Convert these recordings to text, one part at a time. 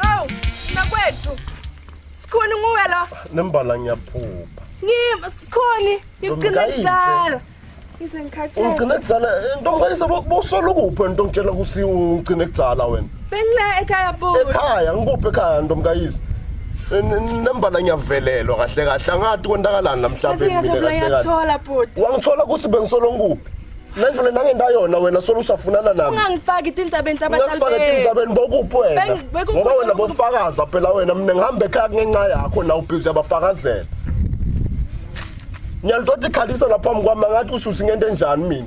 Hawu, nakwethu. Sikhona nguwe la. Nembala ngiyaphupha. Ngim sikhoni ngigcina Ntomkayise. kuzala. Ngize ngikhathele. Ungigcine kudzala ntomkayise bosolo kuphi wena nto ngitshela kusi ungigcine kudzala wena. Bengila ekhaya bhuti. Ekhaya ngikuphi ekhaya ntomkayisi? Nembala ngiyavelelwa kahle kahle angathi kontakalani namhlanje mina kahle kahle. Ngiyathola bhuti. Wangithola ukuthi bengisolo ngikuphi? Nandlule nangenda yona wena solo usafunana nami. Ungangifaki tintabeni tabatalibeni. Ungangifaki tintabeni bokuphi wena? Ngoba wena bofakaza phela wena mina ngihamba ekhaya kungenxa yakho na ubhizi yabafakazela. Ngiyalithola ikhalisa lapha mkwami ngathi ususi ngento enjani mina.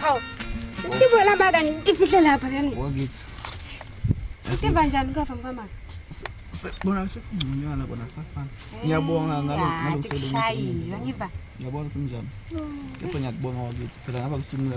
Hawu. Ngibona mama kanti ngifihle lapha kanti. Wakithi. Uthemba njani ukava mkamama? Bona sekungconywana bona kusafana. Ngiyabonga ngalo ngalo msebenzi. Ngiyabona sinjani. Kepha ngiyakubonga wakithi. Phela ngaba kusungula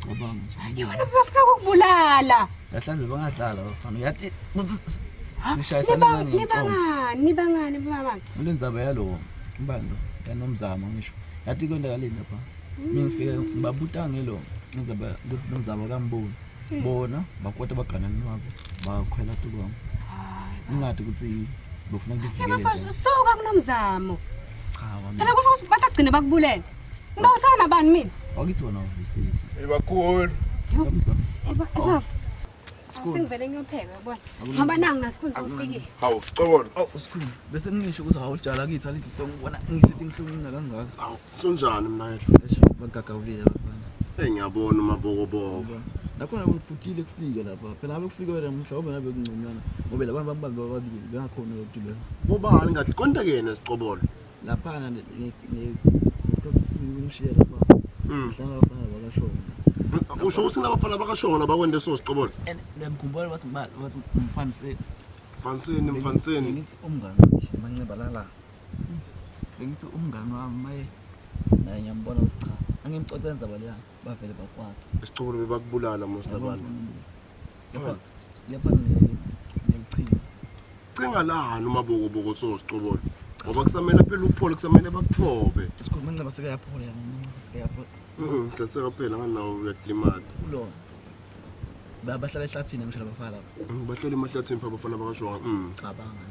Cabanga nje. Yona bafuna ukubulala. Kahlanje bangadlala bafana. Uyathi sishayisana ngani? Nibangani, nibangani mama. Ulenzaba yalo mbando kanomzamo ngisho. Yathi konda kalini lapha. Mm. Mina ngifike ngibabuta ngelo ngizaba ukuthi nomzamo kamboni. Mm. Bona bakwata bagana nabo bakhwela tukwami. Ingadi ukuthi bofuna kuvikele nje. Yabafana usuka kunomzamo. Cha wami. Phela kusho ukuthi batagcina bakubulele. Ngibawusana bani mina? Wakithi wona uvisisi. Ebakhulu. Eba ebafu. Singivele ngiyopheka yabona. Ngoba nangu nasikhulu sokufikile. Hawu xolo. Awu usikhulu bese ngisho ukuthi hawujala kithi alithi to ngibona ngisithi ngihlungina kangaka. Hawu sonjani mina yethu. Eish bagagawulile abafana. Hey ngiyabona umabokoboko. Nakhona kuphutile kufike lapha. Phela ngabe kufike wena mhlawumbe ngabe kungconywana. Ngoba labantu bambambe bababili bengakhona lokugibela. Bobani kahle konta kena siqobolo. laphana ngesikhathi lapha ngihlala abafana bakashona usho ukuthi kunabafana bakashona bakwende so siqobolo ngiyamkhumbula wathi wathi mfaniseni mfaniseni mfaniseni ngithi umngane manxeba lala bengithi umngane wami maye naye ngiyambona ukuthi cha angimxoxe nzaba leyana bavele bakwakhe isicukulo bebakubulala most abantu cinga lani umabokoboko sosicobolo ngoba kusamele phela uphole kusamele bakuthobe isikhuluma nceba sekayaphola sekayaphola mhlatheka kuphela nganawo uyakulimala kulona bahlala ehlathini ngisho labafana lapho bahlala emahlathini pha abafana bakashonga cabanga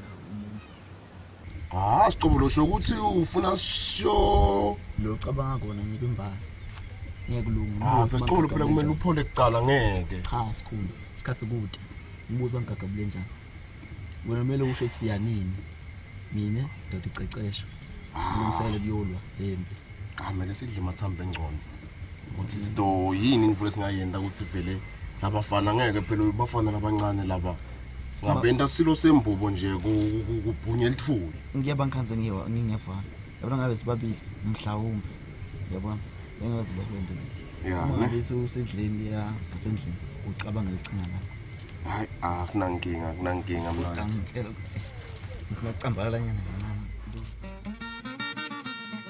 Ah, siqobulo sho ukuthi ufuna sho lo cabanga kona ngeke mbali. Ngeke ulunge. Ah, siqobulo phela kumele uphole kucala ngeke. Cha, sikhulu. Isikhathi kude. Umbuzo bangigagabule njani? Wena kumele usho siyanini. Mina ndoda icecesho. Ngilungisele kuyolwa lempi. Ah, mina sidle mathambo engcono. ukuthi izinto yini imvula singayenda ukuthi vele labafana ngeke phela bafana labancane laba singabenta silo sembubo nje kubhunye elithuli ngiyaba ngikhanze ngiwa ngingiyafana yabona ngabe sibabili mhlawumbe yabona engabe sibahwende ya ne bese usendlini ya usendlini ucabanga lichingana hayi ah kunankinga kunankinga mna ngicela ngicambalala nyana kancane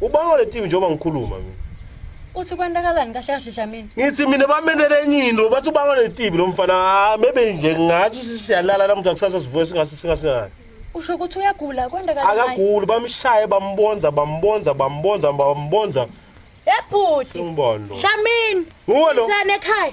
Ubanga le team njengoba ngikhuluma mina. Uthi kwendakalani kahle kahle Dlamini? Ngithi mina bamenele enye into bathi ubanga le team lo mfana ah, maybe nje ngathi sisiyalala namuhla kusasa sivuke singase singasingani. Usho ukuthi uyagula kwendakalani? Akaguli bamshaye bambonza bambonza bambonza bambonza. Ebhuti. Umbona. Dlamini. Nguwe lo. Thana ekhaya.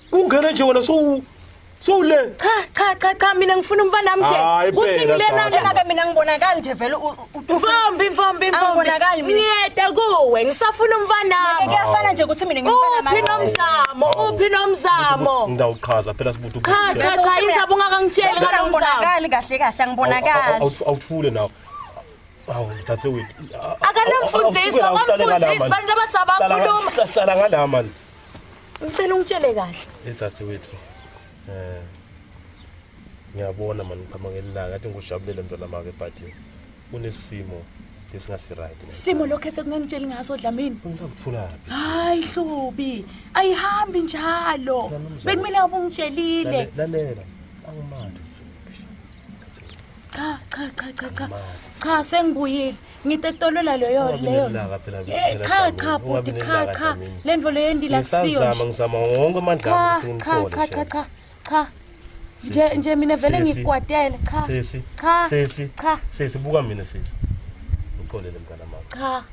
Kungena nje wena so so le. Cha cha cha cha mina ngifuna umfana wami Hayi, nje. Kuthi phela, ngilena Tata. lena ke mina ngibonakali nje vele u- u- u- Mfombi mfombi Angibonakali mfombi. mina. Ngiyeda kuwe ngisafuna umfana Ngeke wami. kuyafana nje ukuthi mina ngimfana Uphi manje. nomzamo? Uphi nomzamo? Ngidawuchaza phela sibuthi Cha cha ubuthi. cha inzaba ungakangitsheli Ngifana ngomzamo. ngibonakali kahle kahle angibonakali. Awuthule nawe. Awu thathe wethu. Akanamfundiso, bamfundisi, bantu abathi abakhuluma. Hlala ngalama. Ngicela ungitshele kahle. Ezathi wethu. Eh. Ngiyabona mani uphama ngelilanga ngathi ngikujabulele mntwana make but kunesimo lesingasi right. Simo lokhethe kungangitsheli ngaso Dlamini. Ngithulaphi? Hayi hlubi. Ayihambi njalo. Bekumele ubungitshelile. Lalela. Angimandi. Cha cha cha cha cha. Cha sengibuyile. ngitetolwela leyo leyo eh, cha cha bhuti cha cha le nto leyo endila kusiyo ngizama wonke amandla cha cha cha cha cha nje nje mina vele ngikwatele cha sisi cha sisi cha sisi buka mina sisi uxolele mntana mama cha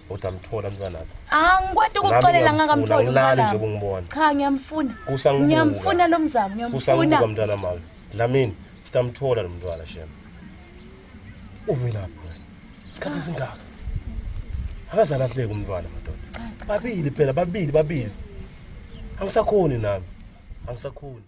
kodwa mthola mntwana wakho angikwati ukuxolela ngakamthola ngilali nje kungibona cha ngiyamfuna ngiyamfuna lo mzamo ngiyamfuna kusambuka mntwana mama dlamini sitamthola lo mntwana shema uvelaphi wena isikhathi esingaka akazalahleki umntwana madoda babili phela babili babili angisakhoni nami angisakhoni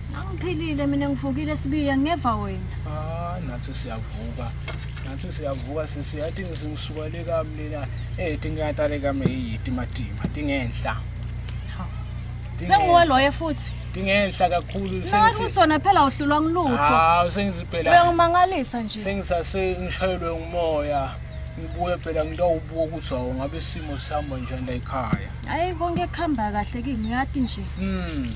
Angiphilile mina ngivukile sibiya ngeva wena. Ah nathi siyavuka. Nathi siyavuka sisi yathi ngisuka le kamlena eh tingatale kame yiti matima tingenhla. Sengiwe loye futhi. Tingenhla kakhulu sengisi. Nathi kusona phela uhlulwa ngilutho. Ah sengizi phela. Uyangimangalisa nje. Sengisase ngishayelwe ngumoya. ngibuye phela ngitawubuka ukuthi awu ngabe isimo sihamba njani la ekhaya hhayi konke kuhamba kahle kimi uyati nje hmm.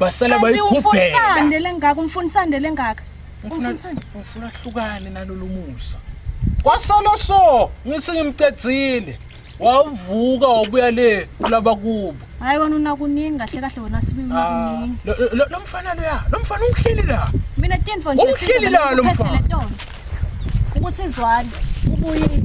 basala bayikhuphela lengaka umfunisande lengaka ufuna hlukane nalolu musa kwasolo so ngithi ngimcedzile wawuvuka wabuya le kulaba kubo hayi wena unakuningi kahle kahle wona sibi unakuningi ah, lo mfana lo ya lo mfana ungihleli la mina tinfo nje ungihleli la lo mfana ukuthi izwane ubuye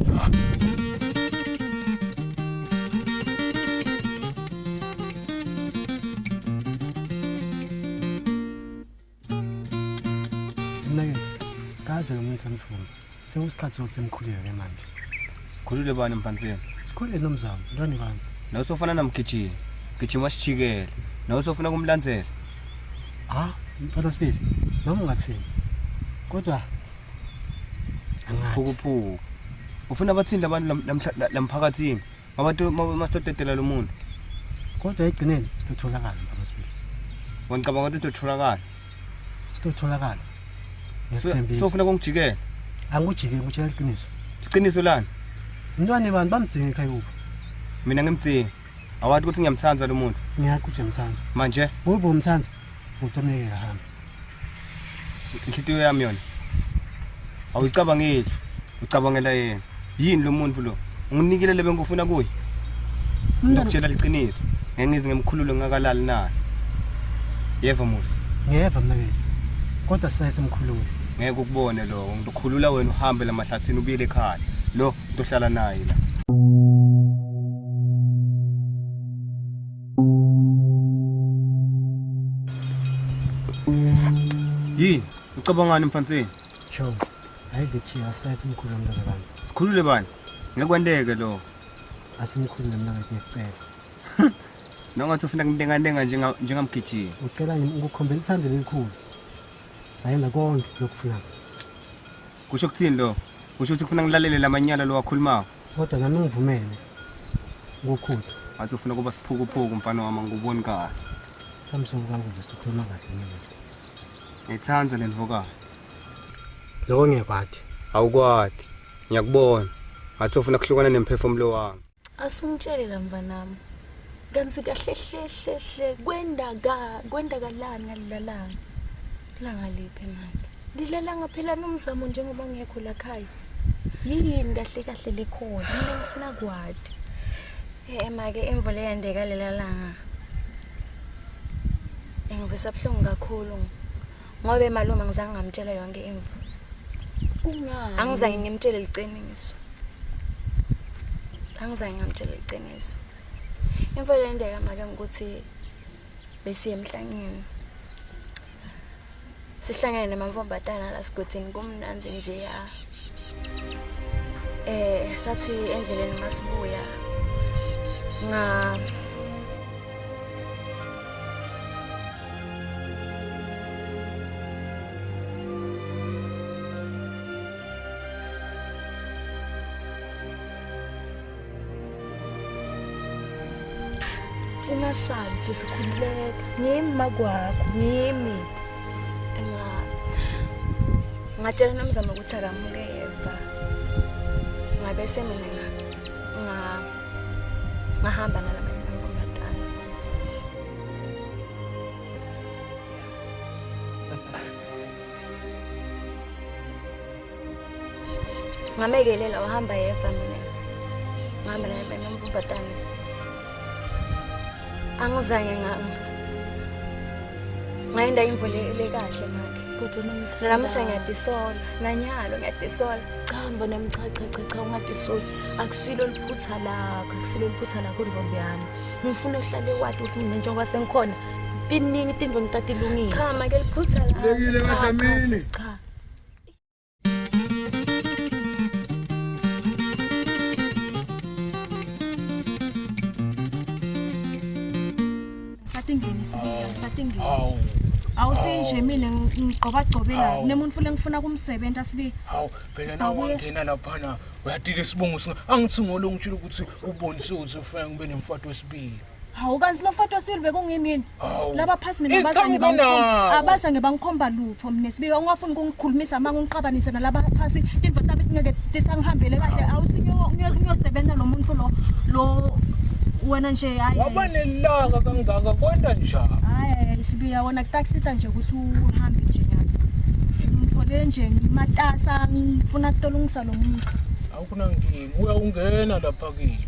Mnakeni, kaze lo muntu samfuna. Sekusikhathi sokuthi simkhulile ke manje. Sikhulule bani mfaniseni? Sikhulile nomzamo, ntwana bami. Nawe sofana namgijima. Gijima sijikele. Nawe sofuna kumlandzela. Ah, mfana sibili. Noma ungathini. Kodwa Isiphukuphuku. Ufuna bathini labantu lam- lamhla- la- lamphakathini? Abantu masitotetela lo muntu. Kodwa egcineni sitotholakala mfana sibili. Wangicabanga ukuthi sitotholakala. Sitotholakala. Ngethembisa. Sofuna kongijikela. Angikujike ngitshela iqiniso. Iqiniso lani? Mntwana bani bamdzinga ekhaya kuphi? Mina ngimdzinga. Awathi ukuthi ngiyamthanda lo muntu. Ngiyakho ukuthi ngiyamthanda. Manje? Kuphi umthanda? Utameke hamba. Inhlitiyo yami yona. Awuyicabangeli. Ucabangela yena. Yini lo muntu lo? Unginikile lebe ngifuna kuye. Ngikutshela liqiniso. Ngeke ngize ngimkhulule ngakalali naye. Yeva musa. Ngiyeva mna bethu. Kodwa sisaye simkhulule. Ngeke ukubone lo. Ngikhulula wena uhambe lamahlathini ubuyele ekhaya. Lo ntohlala naye la. Yini? Ucabangani mfanseni? Cho. Ayidle chiya asayise umkhulu womntana bani. Sikhulule bani? Ngeke kwenteke lo. Asimkhulu nomntana ngiyacela. Nongathi ufuna kuntengantenga njenga njengamgijimi. Ucela yini ukukhombela uthando elikhulu? Sayena konke lokufuna. Kusho ukuthini lo? Kusho ukuthi ufuna ngilalele lamanyala lo wakhulumako. Kodwa nami ngivumele ngokhuthu. Athi ufuna kuba siphukuphuku mfana wami ngikuboni kahle. Samsung kanguve sikhuluma kahle mina. Ngithanda le ndvokayo. Lokho ngiyakwati. Awukwati. Ngiyakubona. Athi ufuna kuhlukana nemphefumulo wami. Asumtshele la mfanami. Kanti kahle hle hle hle kwenda ka kwenda kalana lalana. Langa liphi manje? Lilelanga phela nomzamo njengoba ngekho la khaya. Yini kahle kahle lekhona? Mina ngifuna kwadi. Eh make imvula eyandeka lelalanga. Engivisa buhlungu kakhulu. Ngobe malume ngizange ngamtshela yonke imvu. Kungani? Angizange ngimtshele liqiniso. Angizange ngamtshela liqiniso. Imvula eyandeka make ukuthi besiye emhlangeni sihlangene namamfombatana la sigodini kumnandi nje ya eh sathi endleleni masibuya nga ungasabi sesikhululeka ngimi makwakho ngimi ngatshela nomzamo ukuthi akamuke yeva ngabe semina ngahamba nala ngamekelela wahamba yeva mina ngihamba naye nomvubatane angizange ngayenda imvulele kahle makhe namuhla ngiyadisola nanyalo ngiyadisola chamba nemchachachacha ungadisola akusilo liphutha lakho akusilo liphutha lakho ntombi yami ngifuna uhlale wati ukuthi mina njengoba sengikhona tiningi tinto ngitatilungisa cha make liphutha lakho cha awu awu sinje mina ngigqobagcobela nemuntu futhi engifuna kumsebenzi asibi awu phela nawo ngena laphana uyadile isibongo angithi ngolo ngitshela ukuthi ubonise uthi ufike ngibe nemfato wesibili Hawu kanti lo foto siwili bekungimi yini? Hawu. Laba phasi mina Iqhamuke abazange bangikhomba. nawo. Abazange bangikhomba lutho mina sibika ungafuni ukungikhulumisa manga ungiqabanise nalaba phasi into tabe ngeke tisangihambele kahle awuthi ngiyo- ngiyo- ngiyosebenza lo muntu lo lo wena nje hayi. waba nelaka kangaka kwenda njani Hayi sibiya wona kutakusita nje ukuthi uhambe nje nyalo. Ngithole nje matasa ngifuna kutolungisa lo muntu. awukunankinga uyawungena lapha kimi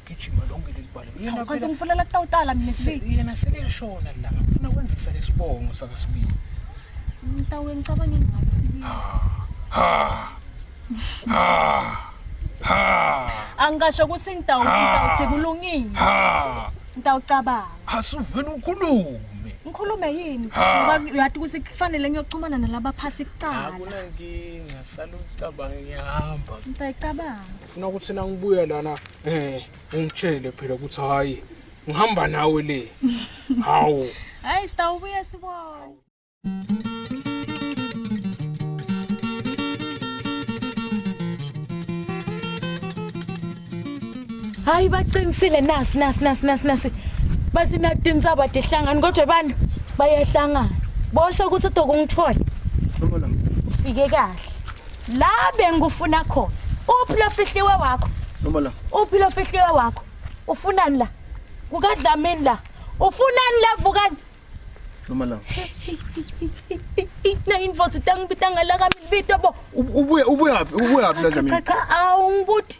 gijima lonke leli bala yena Kanti phela ngifuna la kutawutala mina se- sibi. yena seliyashona la ngifuna kwenzisa lesibongo sakasibili Mtawe ngicabanga ngayo sibi. Angisho ukuthi ngitawu ngitawu sekulungile. Ngitawucabanga. asuvele ukhulume Ngikhulume yini? Ngoba uyathi ukuthi kufanele ngiyoxhumana nalaba phasi kuqala. akunankinga sala ucabanga ngiyahamba Ngitayicabanga. Funa ukuthi na ngibuya lana eh ungitshele phela ukuthi hayi ngihamba nawe le. Hawu. Hayi sitawubuya sibona. Hayi baqinisile nasi nasi nasi nasi nasi. Bathi natintsaba tihlangani kodwa abantu bayahlangana. Bosho ukuthi udokungithola. Ufike kahle. la bengikufuna khona uphi lo fihliwe wakho noma la uphi lo fihliwe wakho ufunani la kukadlamini la ufunani la vukani noma la na invoice itangibitanga la kamibito bo ubuye ubuye phi ubuye phi la dlamini cha cha awungibuthi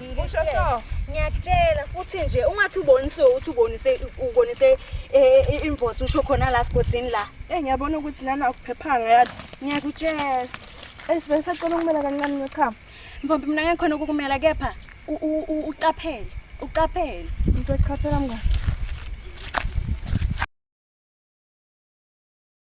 Usho so. Ngiyakutshela futhi nje ungathi ubonise ukuthi ubonise ubonise eh, eh, invoice usho khona la sigodini la. Eh ngiyabona ukuthi lana akuphephanga yazi. Ngiyakutshela. Esivele sacela ukumela kancane nochama. Mfombi mina ngeke khona ukukumela kepha u- u- u- uqaphele, uqaphele. Into echaphela mngani.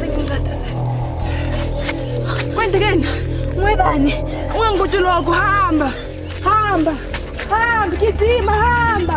Senginceda sisi. Kwenzekeni? Ngwebani? Ungangikuthi lokho hamba. Hamba. Hamba gijima hamba.